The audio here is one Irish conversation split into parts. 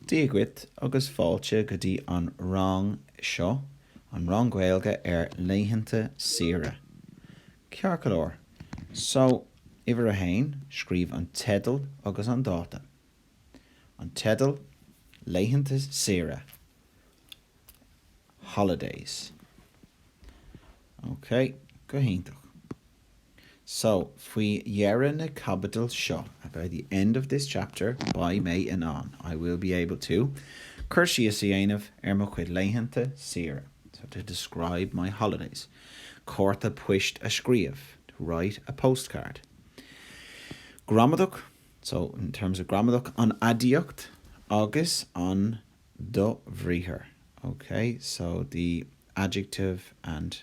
Dia dhuit agus fáilte go dtí an rang Seo an rang Gaeilge ar laethanta saoire. Ceart go leor, so uimhir a haon, scríobh an teideal agus an dáta. An teideal, Laethanta saoire, holidays. Ok, go hiontach. So, faoi dheireadh na caibidil seo, by the end of this chapter, beidh mé in ann, I will be able to, cur síos a dhéanamh ar mo chuid laethanta saoire, so to describe my holidays, cárta poist a scríobh, to write a postcard. Gramadach So, in terms of gramadach, an aidiacht agus an dobhriathar, okay? So, the adjective and.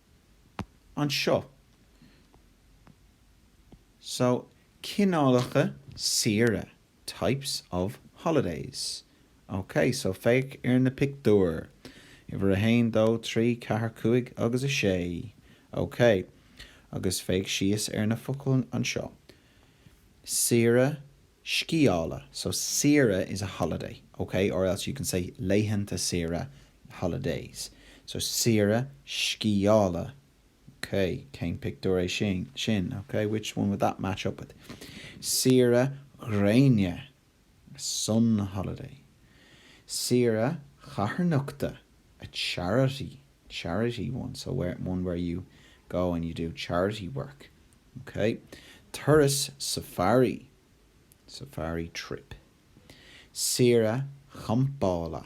anseo. So, cineálacha saoire, types of holidays. Ok, so féach ar na pictiúir, uimhir a haon, dó, trí, ceathair, cúig agus a sé. Ok, agus féach síos ar na focail anseo. saoire sciála. So saoire is a holiday, ok? Or else you can say laethanta saoire, holidays. So saoire sciála, ok? Cén pictiúr é sin, ok? Which one would that match up with? Saoire ghréine. sun holiday, saoire chatharnachta a charity, charity one, so where, one where you go and you do charity work, ok turas safari, safari trip saoire champála.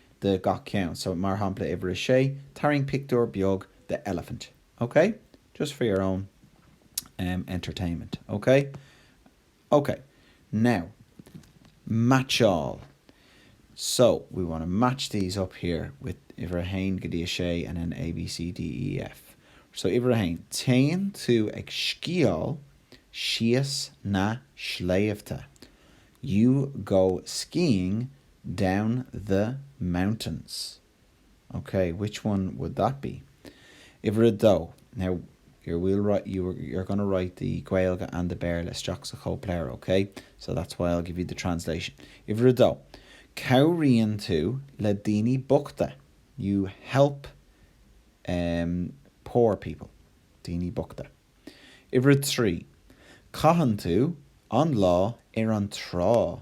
de gach ceann. So, mar shampla, uimhir a sé, tarraing pictiúr beag de elephant, ok? Just for your own em entertainment, ok? Ok, now, meaitseáil. So, we want to match these up here with uimhir a haon go dtí a sé and an A, B, C, D, E, F. So, uimhir a haon, téann tú ag sciáil síos na sléibhte. You go skiing Down the mountains. Ok, which one would that be? Uimhir a dó, Now, well you're going to write the Gaeilge and the Béarla isteach sa chóipleabhar, ok? So that's why I'll give you the translation. Uimhir a dó, Cabhraíonn tú le daoine bochta. You help em poor people. Daoine bochta. Uimhir a trí, Caitheann tú an lá ar an trá.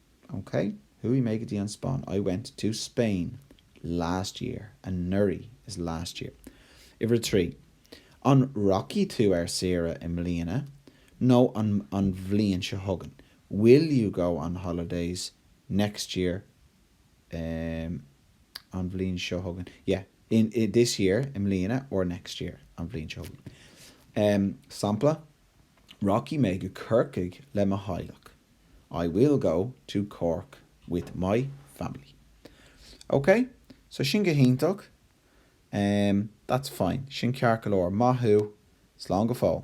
OK, chuaigh mé go dtí an Spáinn. I went to Spain last year. Anuraidh is last year. Uimhir 3, An rachaidh tú ar saoire i mbliana nó an bhliain seo chugainn? Will you go on holidays next year um an bhliain seo chugainn? Yeah, in this year i mbliana or next year an bhliain seo chugainn. um Sampla, Rachaidh mé go Corcaigh le mo theaghlach. I will go to Cork with my family. Ok, so sin go hiontach. Em, that's fine. Sin ceart go leor. Maith thú. Slán go fóill.